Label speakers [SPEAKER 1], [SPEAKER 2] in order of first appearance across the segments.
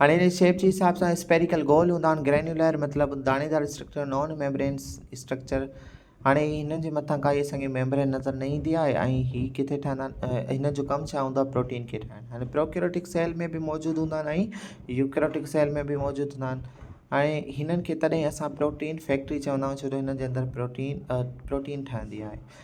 [SPEAKER 1] هاڻي هن جي شيپ جي حساب سان اسپيريڪل گول هوندا آهن گرينيولر مطلب داڻيدار اسٽرڪچر نان ميمبرينس اسٽرڪچر هاڻي هن جي مٿان ڪا اسان کي ميمبرين نظر نه ايندي آهي ۽ هي ڪٿي ٺهندا آهن هن جو ڪم ڇا هوندو آهي پروٽين کي ٺاهڻ هاڻي پروڪيوريٽڪ سيل ۾ به موجود هوندا آهن ۽ يوڪيوريٽڪ سيل ۾ به موجود هوندا آهن هاڻي هنن کي تڏهن اسان پروٽين فيڪٽري چوندا آهيون ڇو جو هن جي اندر پروٽين پروٽين ٺهندي آهي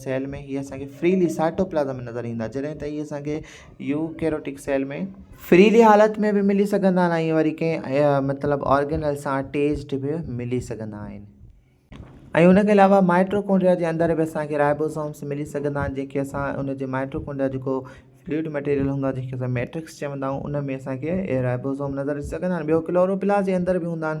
[SPEAKER 1] سيل ۾ هي اسان کي فريلي سائٽوپلازم ۾ نظر ايندا جڏهن ته هي اسان کي يوڪيروٽڪ سيل ۾ فريلي حالت ۾ به ملي سگهندا آهن ۽ وري ڪنهن مطلب آرگنل سان اٽيچڊ به ملي سگهندا آهن. ۽ ان کان علاوه مائٽوڪونڊريا جي اندر به اسان کي رائبوسومس ملي سگهندا آهن جنهن کي اسان ان جي مائٽوڪونڊريا جيڪو فلوئڊ مٽيريل هوندو آهي جنهن کي اسان ميٽرڪس چوندا آهيون ان ۾ اسان کي رائبوسوم نظر اچي سگهندا آهن ٻيو ڪلوروپلاس جي اندر به هوندا آهن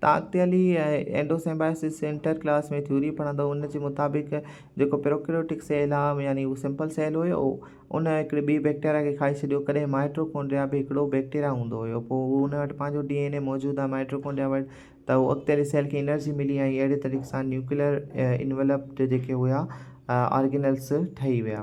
[SPEAKER 1] طاقت علي اينڊوسمبائسس جي انٽر ڪلاس ۾ ٿيوري پڙهندو هو، ان جي مطابق جيڪو پروڪريوٽڪ سيل آهي يعني اهو سمپل سيل هيو ان هڪڙي ٻي بيڪٽيريا کي کائي ڇڏيو، ڪڏهن مائٽوڪونڊريا به هڪڙو بيڪٽيريا هوندو هيو پوء اهو ان وٽ پنهنجو ڊي اين اي موجود آهي مائٽوڪونڊريا وٽ ته اهو اڳتي هلي سيل کي انرجي ملي ۽ اهڙي طريقي سان نيوڪليئر انولپٽ جيڪي هيا آرگينلس ٺهي ويا.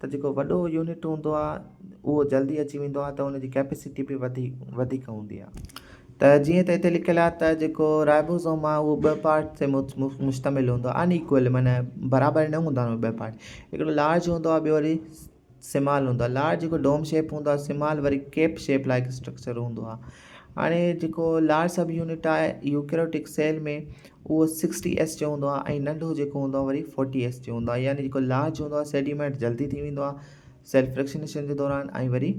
[SPEAKER 1] ته جيڪو وڏو يونٽ هوندو آهي اهو جلدي اچي ويندو آهي ته ان جي ڪيپيسٽي به وڌي وڌيڪ هوندي آهي ته جيئن ته هتي لکيل آهي ته جيڪو رائبوزوم آهي اهو ٻه پارٽ تي مشتمل هوندو آهي ان ايڪول معنيٰ برابر نه هوندا آهن ٻه پارٽ هڪڙو لارج هوندو آهي ٻيو وري سمال هوندو آهي لارج جيڪو ڊوم شيپ هوندو آهي سمال وري ڪيپ شيپ لائق اسٽرڪچر هوندو آهي هاڻي جيڪو لارج سب يونٽ آهي يوڪريوٽڪ سيل ۾ اهو سڪسٽي ايس جو هوندو آهي ۽ ننڍو جيڪو هوندو آهي وري فورٽي ايس جو هوندو آهي يعني جيڪو لارج هوندو آهي سيڊيمينٽ جلدي ٿي ويندو آهي سيل فريڪشنيشن جي دوران ۽ وري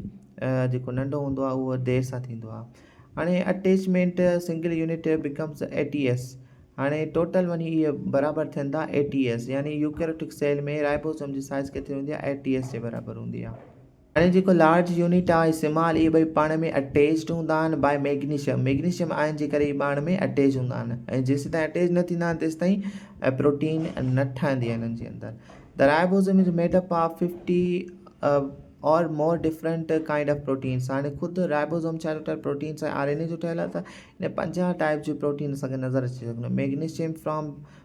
[SPEAKER 1] جيڪو ننڍو هوندو آهي اهو دير سان ٿيندو آهي هاڻي attachment single unit becomes eighty S هاڻي ٽوٽل وڃي اهي برابر ٿين ٿا ايٽي ايس يعني يوڪريوٽڪ سيل ۾ رائبوسوم جي سائز ڪيتري هوندي آهي ايٽي ايس جي برابر هوندي آهي هاڻي جيڪو لارج يونٽ آهي ۽ سمال اهي ٻئي پاڻ ۾ اٽيچڊ هوندا آهن بائي ميگنيشم ميگنيشم آئن جي ڪري اهي پاڻ ۾ اٽيچ هوندا آهن ۽ جيسيتائين اٽيچ نه ٿيندا آهن تيستائين پروٽين نه ٺهندي آهي انهن جي اندر The ribosome is made up of 50 or more different kind of proteins هاڻي خود رائبوزوم ڇا ٺهيل پروٽينس ۽ آر اين اي جو ٺهيل آهي ته ان پنجاهه ٽائيپ جون پروٽين اسان کي نظر اچي سگهن ٿيون magnesium from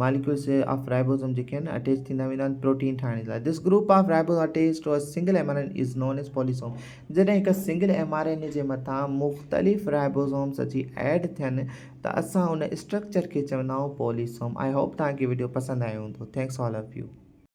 [SPEAKER 1] molecules of ribosome جيڪي آهن اٽيچ ٿيندا ويندا آهن پروٽين ٺاهڻ جي لاء this group of ribosome attach to a single M R N is known as polysome جڏهن هڪ سنگل ايم آر اين جي مٿان مختلف رائبوزومز اچي ايڊ ٿين ته اسان ان اسٽرڪچر کي چوندا آهيون پوليسوم آئي هوپ توهان کي وڊيو پسند آيو هوندو ٿينڪس آل آف يو.